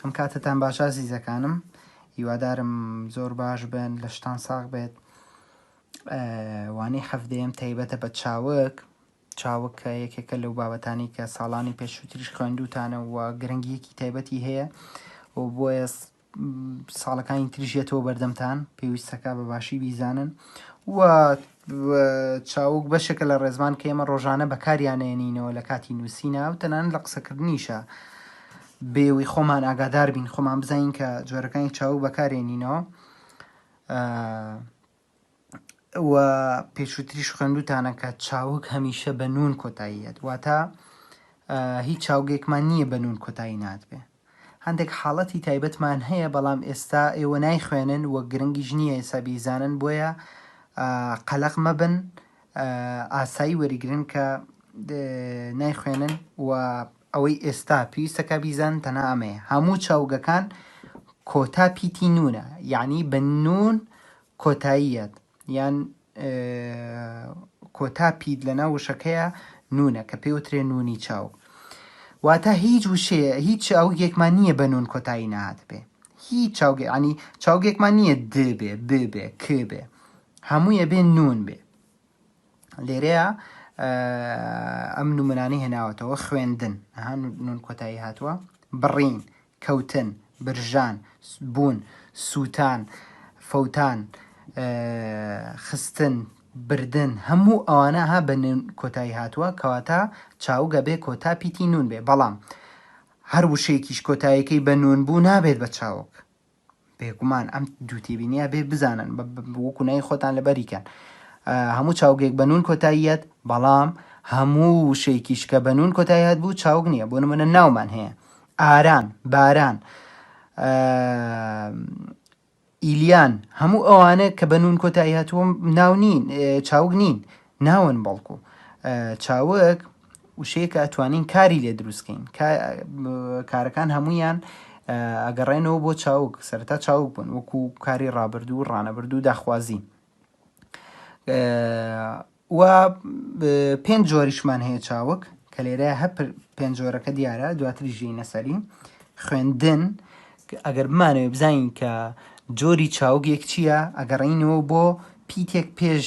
ئەم کاتتان باشە زیزەکانم هیوادارم زۆر باش بن لە شتان ساغ بێت وانەی حەفدەیەم تایبەتە بە چاوک چاوک کە یەکێکە لەو بابەتانی کە ساڵانی پێشووتریش خوێندوتانە و گرنگیەکی تایبەتی هەیە و بۆیە ساڵەکانی تریش یەتەوە بەردەمتان پێویستەکە بە باشی بیزانن و چاوک بەشێکە لە ڕێزمان کە ئێمە ڕۆژانە بەکاریانێنینەوە لە کاتی نووسینە و تەنان لە قسەکردنیشە بێوی خۆمان ئاگادار بین خۆمان بزانین کە جۆرەکانی چاوک بەکارێنینەوە و پێشووتریش خوێندوتانە کە چاوگ هەمیشە بە نون کۆتاییەت واتە هیچ چاوگێکمان نییە بە نون کۆتایی ناتبێ هەندێک حاڵەتی تایبەتمان هەیە بەڵام ئێستا ئێوە نایخوێنن وە گرنگیش نییە ئێستا بیزانن بۆیە قەلق مەبن ئاسایی وەریگرن کە نایخوێنن و ئەوەی ئێستا پێویستە کە بیزانن تەنها ئەمەیە هەموو چاوگەکان کۆتا پیتی نونە یعنی بە نون کۆتاییەت یان کۆتا پیت لە ناو وشەکەیە نونە کە پێوترێ نونی چاو واتە هیچ وشەیە هیچ چاوگێکمان نییە بە نون کۆتایی نهات بێ هیچ چاوگە عنی چاوگێکمان نییە دبێ ببێ کبێ هەموویە بێ نون بێ لێرەیە ئەم نمونانەی هێناوەتەوە خوێندن ئەها نون کۆتایی هاتووە بڕین کەوتن برژان بوون سووتان فەوتان خستن بردن هەموو ئەوانە ها بە نون کۆتایی هاتووە کەواتە چاوگە بێ کۆتا پیتی نون بێ بەڵام هەر وشەیەکیش کۆتایەکەی بە نون بوو نابێت بە چاوک بێگومان ئەم دوو تێبینیە بێ بزانن وەکو نای خۆتان لەبەریکەن هەموو چاوگێک بەنون کۆتاییەت بەڵام هەموو وشەیەکیش کە بەنون کۆتاییەت بوو چاوگ نییە بۆ نمونە ناومان هەیە ئاران باران ئیلیان هەموو ئەوانە کە بەنون کۆتاییهاتووم ناو نین چاوگ نین ناون بەڵکو چاوگ وشەیە کە ئەتوانین کاری لێ دروستکەین کارەکان هەمویان ئەگەڕێنەوە بۆ چاوک سەرتا چاوک بوون وەکو کاری ڕابردوو و ڕانەبردوو داخوازی و پێنج جۆریشمان هەیە چاوک کە لێرە هە پێنج جۆرەکە دیارە دواتری ژی نەسەری خوێندن ئەگەر بمانەوە بزانین کە جۆری چاوگێک چییە ئەگەڕینەوە بۆ پیتێک پێش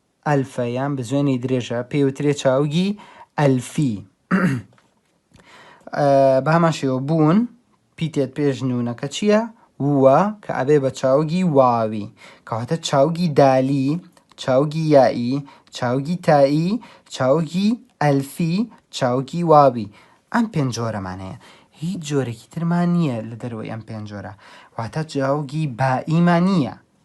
ئەلفە یان بزوێنەی درێژە پێی وترێ چاوگی ئەلفی. بە هەمان شێوە بوون پیتێت پێش نونەکە چییە؟ ووە کە ئەبێ بە چاوگی واوی کەواتە چاوگی دالی چاوگی یائی چاوگی تایی چاوگی ئەلفی چاوگی واوی ئەم پێنج جۆرەمان هەیە هیچ جۆرێکی ترمان نییە لە دەروەی ئەم پێنج جۆرە واتە چاوگی بائیمان نییە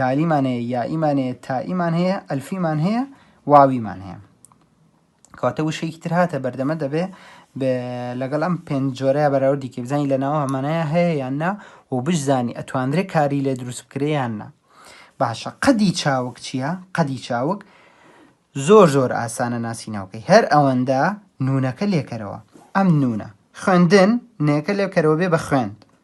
دالیمان هەیە یائیمان هەیە تائیمان هەیە ئەلفیمان هەیە واویمان هەیە کەواتە وشەیەکی تر هاتە بەردەمە دەبێ لەگەڵ ئەم پێنج جۆرەیە بەراوردی کە بزانانی لە ناوە هەمانەیە هەیە یان نا و بشزانی ئەتواندرێ کاری لێ دروست بکرێ یان نا باشە قەدی چاوک چییە قەدی چاوک زۆر زۆر ئاسانە ناسی ناوکەی هەر ئەوەندە نونەکە لێکەرەوە ئەم نونە خوێندن نێکە لێکەرەوە بێ بە خوێند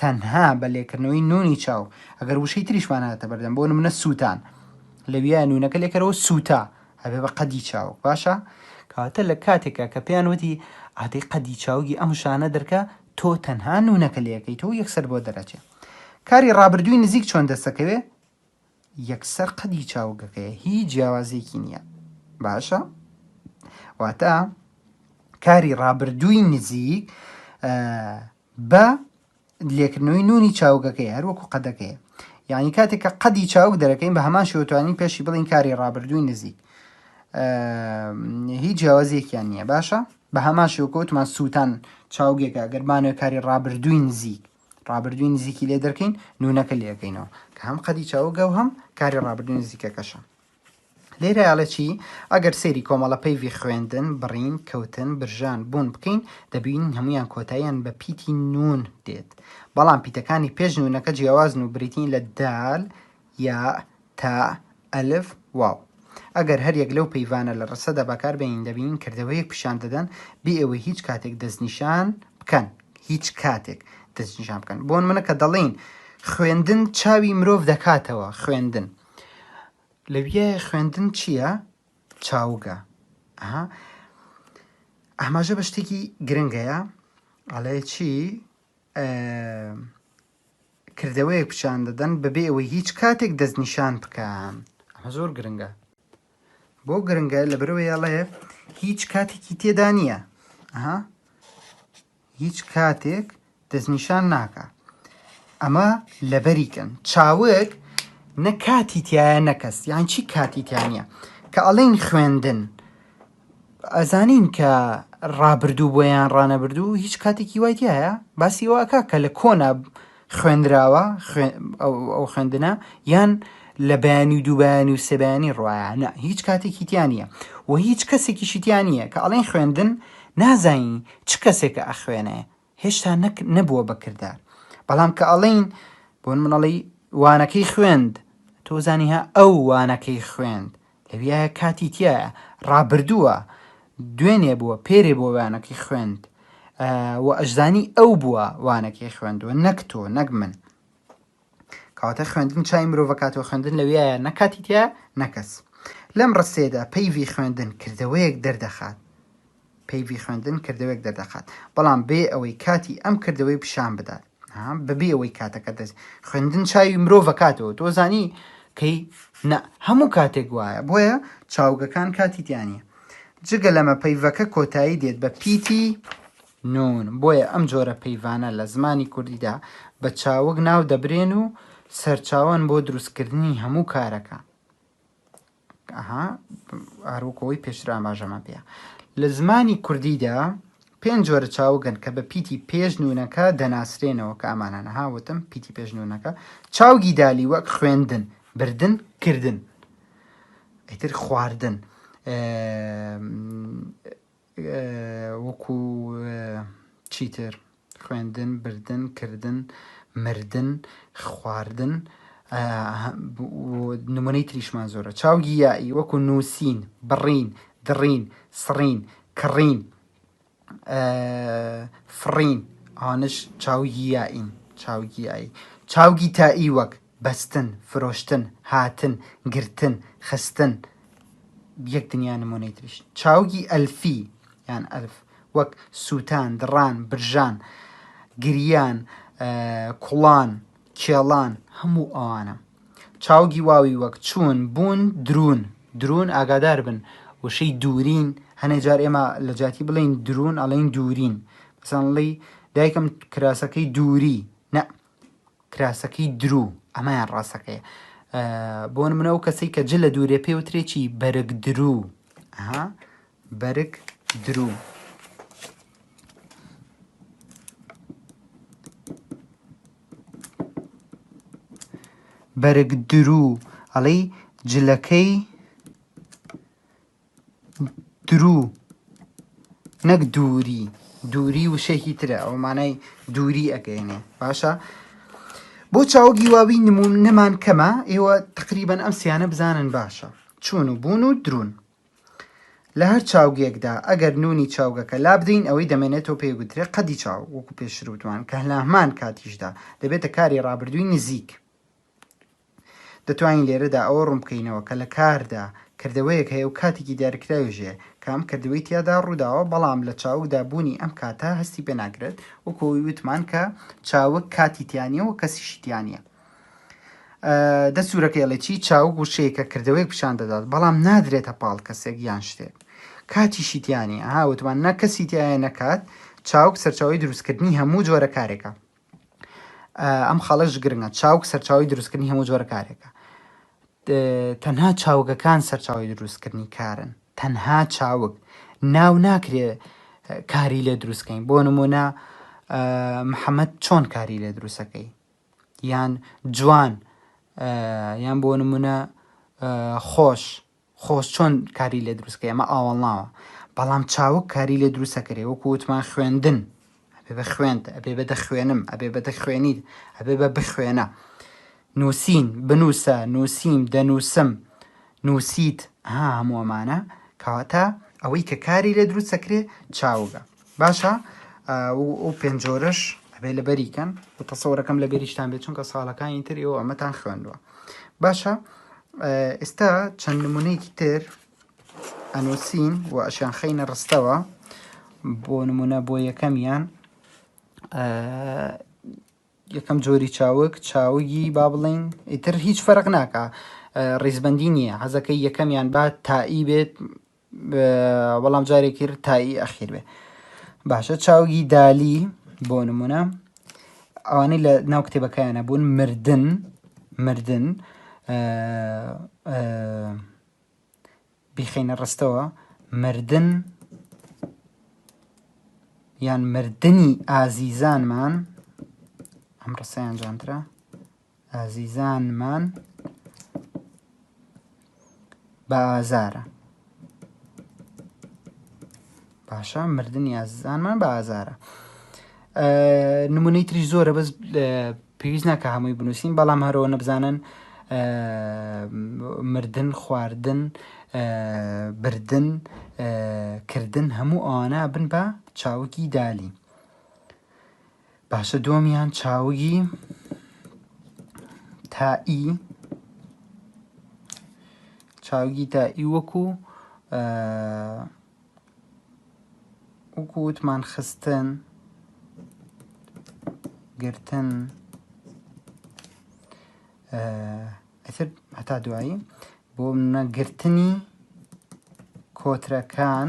تەنها بە لێکردنەوەی نوونی چاو ئەگەر وشەی تریشمان هاتە بەردەم بۆ نمونە سووتان لەویایە نوونەکە لێکەرەوە سووتا ئەبێ بە قەدی چاوک باشە کەواتە لە کاتێکا کە پێیان وتی ئادەی قەدی چاوگی ئەم شانە دەرکە تۆ تەنها نوونەکە لەکەیتەوە یەکسەر بۆ دەرەچێ کاری ڕابردووی نزیک چۆن دەستەکەوێ یەکسەر قەدی چاوگەکەیە هیچ جیاوازیەکی نیە باشە واتە کاری ڕابردووی نزیک بە لێکردنەوەی نونی چاوگەکەی هەروەکو قەدەکەی یعنی کاتێک کە قەدی چاوک دەرەکەین بە هەمان شێوتوانی پێشی بڵین کاری ڕابردووی نزیک هیچ جیاوازیەکیان نییە باشە بە هەمان شێوکەوتمان سووتان چاوگێکە گەرمانەوە کاری ڕابردووی نزیک ڕابردووی نزیکی لێ دەرکەین نونەکە لێ ئەکەینەوە کە هەم قەدی چاوگە و هەم کاری ڕابردووی نزیکەکەشە لێرە ئەڵێ چی ئەگەر سێری کۆمەڵە پەیڤی خوێندن بڕین کەوتن برژان بوون بکەین دەبین هەمویان کۆتاییان بە پیتی نون دێت بەڵام پیتەکانی پێش نونەکە جیاوازن و بریتین لە دال یاء، تاء، ئەلف، واو. ئەگەر هەر یەک لەو پەیڤانە لە ڕستەدا بەکار بێنین دەبینین کردەوەیەک پیشان دەدەن بێ ئەوەی هیچ کاتێک دەستنیشان بکەن، هیچ کاتێک دەستنیشان بکەن. بۆ نمونە کە دەڵێین خوێندن چاوی مرۆڤ دەکاتەوە، خوێندن. لەویە خوێندن چییە؟ چاوگە. ئەها. ئاماژە بە شتێکی گرنگەیە، ئەڵێ چی؟ کردەوەیەک پیشان دەدەن بەبێ ئەوەی هیچ کاتێک دەستنیشان بکەن ئەمە زۆر گرنگە بۆ گرنگە لەبەرەوەی ئەڵێ هیچ کاتێکی تێدا نییە ئەها هیچ کاتێک دەستنیشان ناکە ئەمە لەبەریکەن چاوک نە کاتی تایە نەکەس یان چی کاتی تیانە کە ئەڵین خوێندن ئەزانین کە ڕابردوو بووە یان ڕانەبردوو هیچ کاتێکی وای تایە باسی ئەوە ئەکا کە لە کۆنا خوێنراوە ئەو خوێندنە یان لە بەیانی و دووبیانی و سێبیانی ڕایانە هیچ کاتێکی تیانە و هیچ کەسێکی شیتیان نییە کە ئەڵێن خوێندن نازانی چ کەسێکە ئەخوێنێ هێشتا نەک نەبووە بە کردار بەڵام کە ئەڵێین بۆن من ئەڵێی وانەکەی خوێند تۆ زانی ها ئەو وانەکەی خوێند لەویایە کاتی تایە ڕابردووە دوێنێ بووە پێرێ بۆ وانەکەی خوێند و ئەشزانی ئەو بووە وانەکەی خوێندووە نەک تۆ نەک من کەواتە خوێندن چای مرۆڤە کاتەوە خوێندن لەویایە نەکاتی تیا نەکەس لەم ڕستێدا پەیوی خوێندن کردەوەیەک دەردەخات پەیوی خوێندن کردەوەێک دەردەخات بەڵام بێ ئەوەی کاتی ئەم کردەوەی پیشان بدات بەبێ ئەوەی کاتەکە دەست خوێندن چاوی مرۆڤە کاتەوە تۆ زانی کەی نە هەموو کاتێک وایە بۆیە چاوگەکان کاتی دیانە جگە لەمە پەیڤەکە کۆتایی دێت بە پیتی نون، بۆیە ئەم جۆرە پەیڤانە لە زمانی کوردیدا بە چاوگ ناو دەبرێن و سەرچاوەن بۆ دروستکردنی هەموو کارەکە. لە زمانی کوردیدا پێنج جۆرە چاوگن کە بە پیتی پێش نونەکە دەناسرێنەوە کە ئەمانانە هاوتم پیتی پێش نونەکە چاوگی دالی وەک خوێندن بردن کردن ئیتر خواردن وەکو چیتر خوێندن، بردن، کردن، مردن، خواردن و نمونەی تریشمان زۆرە. چاوگی یائی وەکو نووسین، بڕین، دڕین، سڕین، کڕین، فڕین ئەوانەش چاوگی یائین. چاوگی یائی. چاوگی تائی وەک، بەستن، فرۆشتن، هاتن، گرتن، خستن. یەک دنیا نموونەی تریش. چاوگی ئەلفی، یان ئەلف، وەک، سووتان، دڕان، برژان، گریان، کوڵان، کێڵان، هەموو ئەوانە. چاوگی واوی وەک، چوون، بوون، دروون. دروون ئاگادار بن وشەی دوورین هەنێ جار ئێمە لە جیاتی بڵێین دروون ئەڵێین دوورین. مثلا ڵی دایکم کراسەکەی دووری، نە کراسەکەی درو ئەمەیان ڕاستەکەیە بۆ نمونە ئەو کەسەی کە جل لە دوورێ پێ وترێکی بەرگ درو ها بەرگ درو بەرگ درو ئەڵی جلەکەی دروو نەک دووری دووری وشەیەکی ترە ئەو مانای دووری ئەگەێنێ باشە بۆ چاو گیواوی نمون نەمان کەمە ئێوە تقریبان ئەم سیانە بزانن باشە چون و بوون و درون لە هەر چاوگێکدا ئەگەر نونی چاوگەکە لا بدەین ئەوەی دەمێنێتەوە پێگوترێ قەدی چاو وەکو پێشرو دوان کە لەهمان کاتیشدا دەبێتە کاری ڕابردووی نزیک دەتوانین لێرەدا ئەوە ڕوون بکەینەوە کە لە کاردا کردەوەیەک هەیە و کاتێکی دیارکراویش هەیە کە ئەم کردەوەی تیادا ڕووداوە، بەڵام لە چاوگدا بوونی ئەم کاتە هەستی پێ ناکرێت، وەکو ئەوەی وتمان کە چاوگ کاتی تیا نییە و کەسیشی تیا نییە. دە سوورەکە ئەڵێ چی چاوگ وشەیەکە کردەوەیەک پیشان دەدات بەڵام نادرێتە پاڵ کەسێک یان شتێک کاتیشی تیانی ها وتمان نە کەسی تایە نەکات چاوگ سەرچاوی دروستکردنی هەموو جۆرە کارێکە ئەم خاڵەش گرنگە چاوک سەرچاوی دروستکردنی هەموو جۆرە کارێکە تەنها چاوگەکان سەرچاوی دروستکردنی کارن تەنها چاوک ناو ناکرێ کاری لێ دروستکەین بۆ نمونە محەممەد چۆن کاری لێ دروستەکەی یان جوان یان بۆ نمونە خۆش خۆز چۆن کاری لێ دروست کەی ئەمە ئاوەڵناوە بەڵام چاوگ کاری لێ دروست ئەکرێ وەکو وتمان خوێندن ئەبێ بە خوێنت ئەبێ بە دەخوێنم ئەبێ بە دەخوێنیت ئەبێ بە بخوێنە نووسین بنووسە نووسیم دەنووسم نووسیت ها هەموو ئەمانە کەواتە ئەوەی کە کاری لێ دروست ئەکرێ چاوگە. باشە ئەو پێنج جۆرەش ئەبێ لەبەری کەن و تەسەوەرەکەم لە بێریشتان بێت چونکە ساڵەکانی تر ئێوە ئەمەتان خوێندووە باشە ئێستا چەند نمونەیەکی تر ئەنووسین و ئەشیان خەینە ڕستەوە بۆ نمونە بۆ یەکەمیان یەکەم جۆری چاوک چاوگی با بڵین ئیتر هیچ فەرق ناکە ڕیزبندی نییە حەزەکەی یەکەمیان با تائی بێت بەڵام جارێکی تایی ئەخیر بێ باشە چاوگی دالی بۆ نمونە ئەوانەی لە ناو کتێبەکەیانە بوون مردن مردن بیخینە ڕستەوە مردن یان مردنی ئازیزانمان ئەم ڕستەیان جانترە ئازیزانمان بە ئازارە باشە مردنی ئازیزانمان بە ئازارە نمونەی تری زۆرە بەس پێویست ناکە هەمووی بنووسین بەڵام هەرەوە نەبزانن مردن خواردن بردن کردن هەموو ئەوانە بن بە چاوکی دالی باشە دووەمیان چاوگی تائی چاوگی تائی وەکو وەکو وتمان خستن گرتن ئەتر هەتا دوایی بۆ نەگرتنی کۆترەکان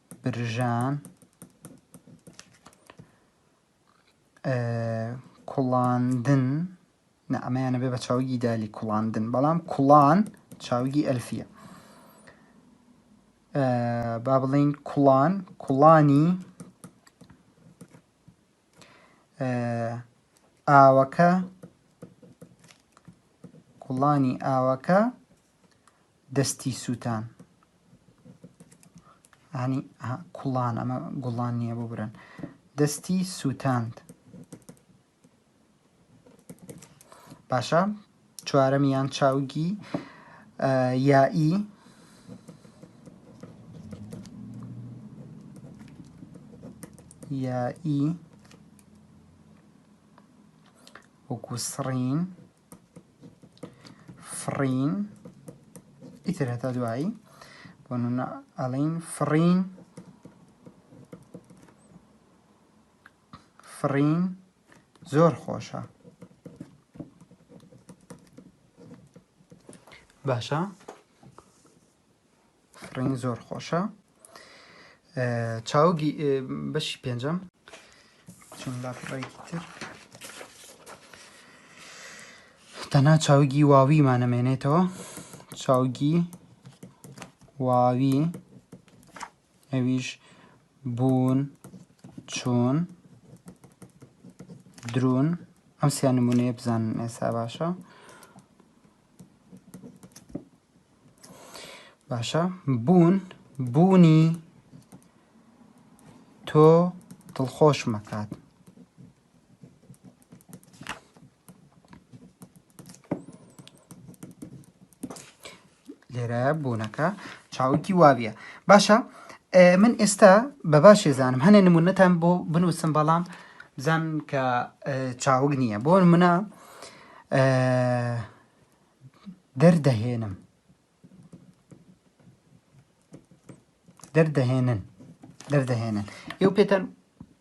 برژان کوڵاندن نە ئەمەیانە بێ بە چاوگی دالی کوڵاندن بەڵام کوڵان چاوگی ئەلفیە با بڵین کوڵان کوڵانی ئاوەکە کوڵانی ئاوەکە دەستی سوتان ینی کوڵان ئەمە گوڵان نییە بۆ برن دەستی سووتاند باشە چوارەمیان چاوگی یائی یائی وەکو سڕین فڕین ئیتر هەتا دوایی بۆ نمونە ئەڵین فڕین فڕین زۆر خۆشە باشە ڕنگی زۆر خۆشە چاوگی بەشی پێنجەم چون لاپڕێکی تر تەنها چاوگی واویمانەمێنێتەوە چاوگی واوی ئەویش بوون چۆن درون ئەم سیان نمونەیە بزانن ئێسا باشە باشە بوون بوونی تۆ دڵخۆش مەکات لێرە بوونەکە چاوکی واویە باشە من ئێستا بە باشێ زانم هەنێ نمونەتان بۆ بنووسم بەڵام بزان کە چاوگ نییە بۆ منە دەردەهێنم دەردەهێنن دەردەهێنن ئێو پێتەن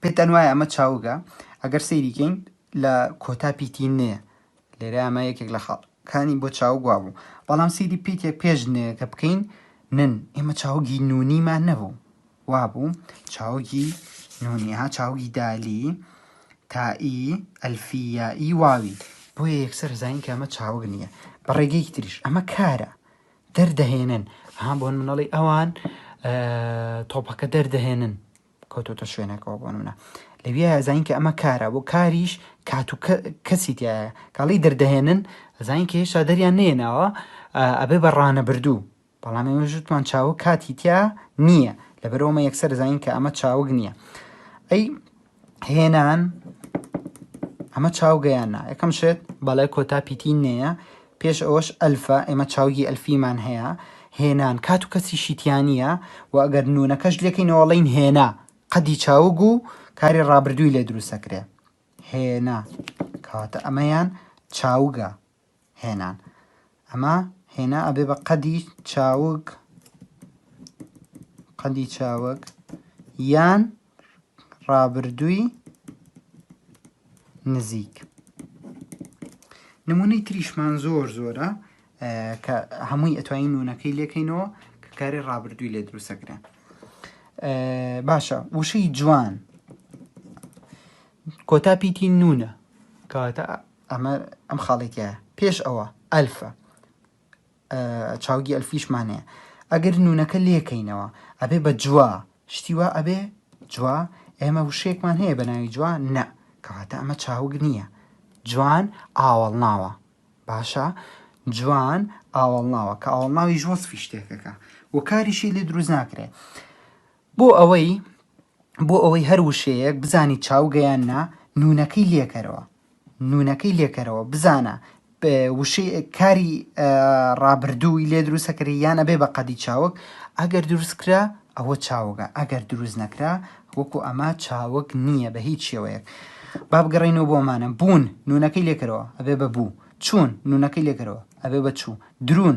پێتەن وایە ئەمە چاوگە ئەگەر سەیریکەین لە کۆتا پیتی نێ لێرە ئەمە یەکێک لە خاڵکانی بۆ چاو گوا بوو بەڵام سیری پیتێک پێش نێ کە بکەین نن ئێمە چاوگی نونیمان نەبوو وابوو چاوگی نونی ها چاوگی دالی تائی ئەلفی یائی واوی بۆیە یەکسەر زانین کە ئەمە چاوگ نییە بە ڕێگەیەکی تریش ئەمە کارە دەردەهێنن ها بۆن منەڵی ئەوان تۆپەکە دەردەهێنن کەوتۆتە شوێنەکەەوە بۆن منە لەوی زانین کە ئەمە کارە بۆ کاریش کات و کەسی تایە کاڵی دەردەهێنن زانین کە هێشتا دەریان نێناوە ئەبێ بە ڕانەبردوو بەڵام ئێوەش وتمان چاوگ کاتی تیا نییە لەبەرەوەمە یەکسەر دەزانین کە ئەمە چاوگ نییە ئەی هێنان ئەمە چاوگەیان نا یەکەم شێت بەڵێ کۆتا پیتی نەیە پێش ئەوەش ئەلفا ئێمە چاوگی ئەلفیمان هەیە هێنان کات و کەسی شیتیانە و ئەگەر نونەکەش لەکەینەوەڵین هێنا قەدی چاوگ و کاری ڕابردووی لێ دروستەکرێ هێنا کاتە ئەمەیان چاوگە هێنان ئەمە هێنا ئەبێ بە قەدی چاوک قەدی چاوک یان ڕابردووی نزیک نمونەی تریشمان زۆر زۆرە کە هەمووی ئەتوانین نونەکەی لێکەینەوە کە کاری ڕابردووی لێ دروستەکرێن باشە وشەی جوان کۆتا پیتی نونە کەواتە ئەمە ئەم خاڵی تیا پێش ئەوە ئەلفە چاوگی ئەلفیشمان هەیە ئەگەر نونەکە لێکەینەوە ئەبێ بە جووا شتیوا ئەبێ جووا ئێمە وشێکمان هەیە بە ناوی جووا نە کەواتە ئەمە چاوگ نییە جوان ئاوەڵ ناوە باشە جوان ئاوەڵ ناوە کە ئاوەڵ ناوی ژۆسفی شتێکەکە وەکاریشی لێ دروست ناکرێت بۆ ئەوەی بۆ ئەوەی هەر وشەیەک بزانی چاوگە یان نا نونەکەی لێکەرەوە نونەکەی لێکەرەوە بزانە وشەی کاری ڕابردووی لێ دروستەکەری یان ئەبێ بە قەدی چاوک ئەگەر دروستکرا ئەوە چاوگە ئەگەر دروست نەکرا وەکو ئەمە چاوک نییە بە هیچ شێوەیەک بابگەڕینەوە بۆمانە بوون نونەکەی لێکەرەوە ئەبێ بە بوو چوون نونەکەی لێکەرەوە ئەبێ بە چوو درون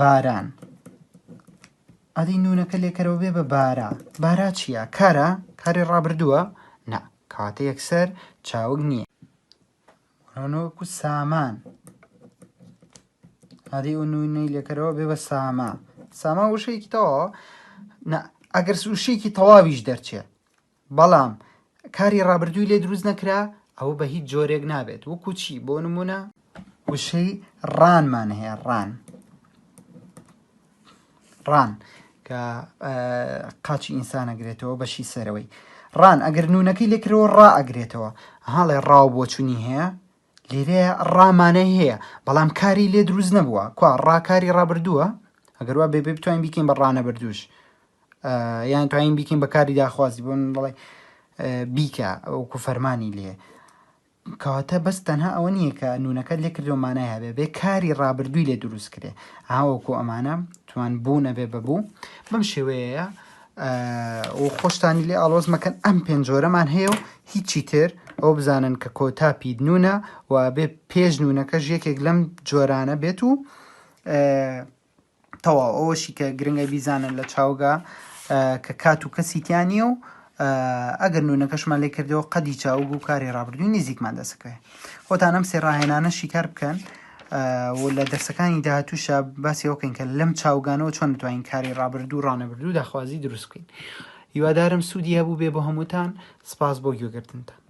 باران ئەدی نونەکە لێکەرەوە بێ بە بارا بارا چییە کارە کاری ڕابردووە نا کاتە یەکسەر چاوگ نییە ڕۆنۆکو سامان ئەدی و نوینەی لێکەرەوە بێ بە ساما ساما وشەیەکی تەواوە ئەگەر سوشەیەکی تەواویش دەرچێت بەڵام کاری ڕابردووی لێ دروست نەکرا ئەوە بە هیچ جۆرێک نابێت وەکو چی بۆ نمونە وشەی ڕانمان هەیە ڕان ڕان کە قاچی ئینسان ئەگرێتەوە بەشی سەرەوەی ڕان ئەگەر نونەکەی لێکرەوە ڕائەگرێتەوە هاڵێ ڕاو بۆچوونی هەیە لیرەیە ڕا مانای هەیە بەڵام کاری لێ دروست نەبووە کوا ڕا کاری ڕابردووە ئەگەر وا بێ بێ بتوانین بیکەین بە ڕانەبردوش یان توانین بیکەین بە کاری داخوازی بۆ من بڵێ بیکە ئەوکو فەرمانی لێ کەواتە بەس تەنها ئەوە نییە کە نونەکە لێ کردو مانای هەبێ بێ کاری ڕابردووی لێ دروست کرێ ئاوەکو ئەمانە توان بوو نەبێ بەبوو بەم شێوەیە و خۆشتانی لێ ئاڵۆز مەکەن ئەم پێنجۆرەمان هەیە و هیچی تر ئەو بزانن کە کۆتا پید نونە و بێ پێش نونەکەش یەکێک لەم جۆرانە بێت و تەواو ئەوەشی کە گرنگە بیزانن لە چاوگا کە کات و کەسیتیانە و ئەگەر نونەکەشمان لێ کردەوە قەدی چاوگ و کاری ڕابردووی نزیکمان دەسەکەێ خۆتان ئەم سێ ڕاهێنانە شیکار بکەن و لە دەرسەکانی داهاتووشە باسی ئەوە بکەین کە لەم چاوگانەوە چۆن بتوانین کاری ڕابردوو ڕانەبردوو داخوازی دروست بکەین هیوادارم سوودی هەبوو بێ بۆ هەمووتان سپاس بۆ گوێگرتنتان